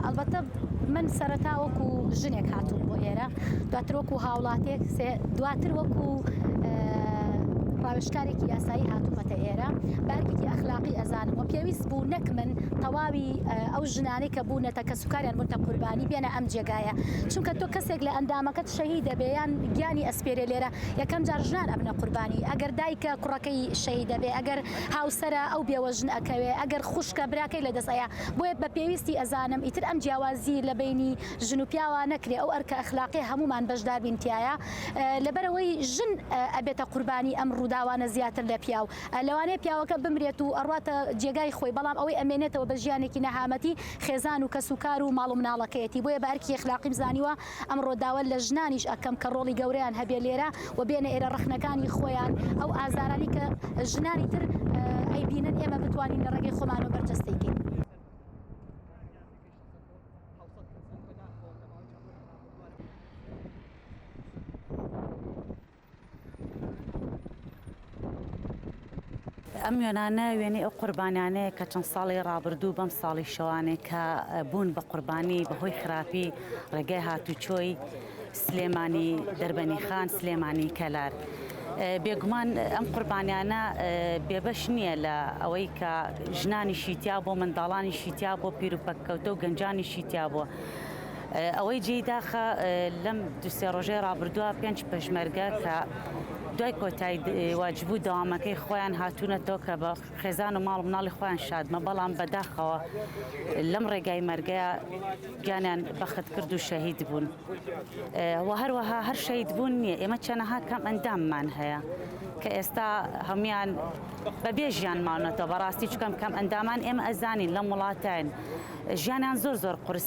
ئەڵبەتە من سەرەتا وەکو ژنێک هاتوو بۆ ئێرە دواتر وەکو هاوڵاتێک دواتر وەکو ڕاوشکارێکی یاسایی هاتوومەتە ئێرە بارکێکی ئەخلاقی ئەزانم و پێویست بوو نەک من تەواوی ئەو ژنانەی کە بونەتە کەسوکاریان بونتە قوربانی بێنە ئەم جێگایە چونکە تۆ کەسێک لە ئەندامەکەت شەهید دەبێ یان گیانی ئەسپێرێ لێرە یەکەم جار ژنان ئەبنە قوربانی ئەگەر دایکە کوڕەکەی شەهید دەبێ ئەگەر هاوسەرە ئەو بێوەژن ئەکەوێ ئەگەر خوشکە براکەی لە دەست ئەیا بۆیە بە پێویستی ئەزانم ئیتر ئەم جیاوازی لە بینی ژن و پیاوە نەکرێ ئەو ئەرکە ئەخلاقی هەمومان بەشدار بین تایە لەبەرەوەی ژن ئەبێتە قوربانی ئەم ڕووداوانە زیاتر لە پیاو لەوانەیە پیاوەکە بمرێت و ئەڕواتە جێگای خۆی، بەڵام ئەوەی ئەمێنێتەوە بە ژیانێکی نەهامەتی خێزان و کەس و کار و ماڵ و مناڵەکەیەتی، بۆیە بە ئەرکی ئەخلاقیم زانیوە ئەمڕۆ داوا لە ژنانیش ئەکەم کە ڕۆڵی گەورەیان هەبێ لێرە و بێنە ئێرە ڕەخنەکانی خۆیان ئەو ئازارانەی کە ژنانی تر ئەیبینن ئێمە بتوانین لە ڕێگەی خۆمانەوە بەرجەستەی کەین. ئەم وێنانە وێنەی ئەو قوربانیانەیە کە چەند ساڵی ڕابردوو بەم ساڵی شەوانێک کە بوون بە قوربانی بەهۆی خراپی ڕێگای هاتوچۆی سلێمانی دەربەنی خان سلێمانی کەلار. بێگومان ئەم قوربانیانە بێبەش نییە لە ئەوەی کە ژنانی شیتیا بۆ منداڵانی شیتیا بۆ پیرروپەککەوتە و گەنجانی شیتیا بووە. ئەوەی جێی داخە لەم دو سێ ڕۆژەی ڕابردووە پێنج پێشمەرگە کە دوای کۆتایی واجبوو داوامەکەی خۆیان هاتوونەتەوە کە بە خێزان و ماڵ مناڵی خۆیان شادمە بەڵام بەداخەوە لەم ڕێگای مەرگەیە گیانیان بەخت کرد و شەهید بوون و هەروەها هەر شەید بوون نییە ئێمە چەنەها کەم ئەنداممان هەیە کە ئێستا هەموان بە بێژیان ماونەتەوە بەڕاستی چکەم کەم ئەندامان ئێمە ئەزانین لەم وڵاتین ژیانیان زۆر زۆر قرس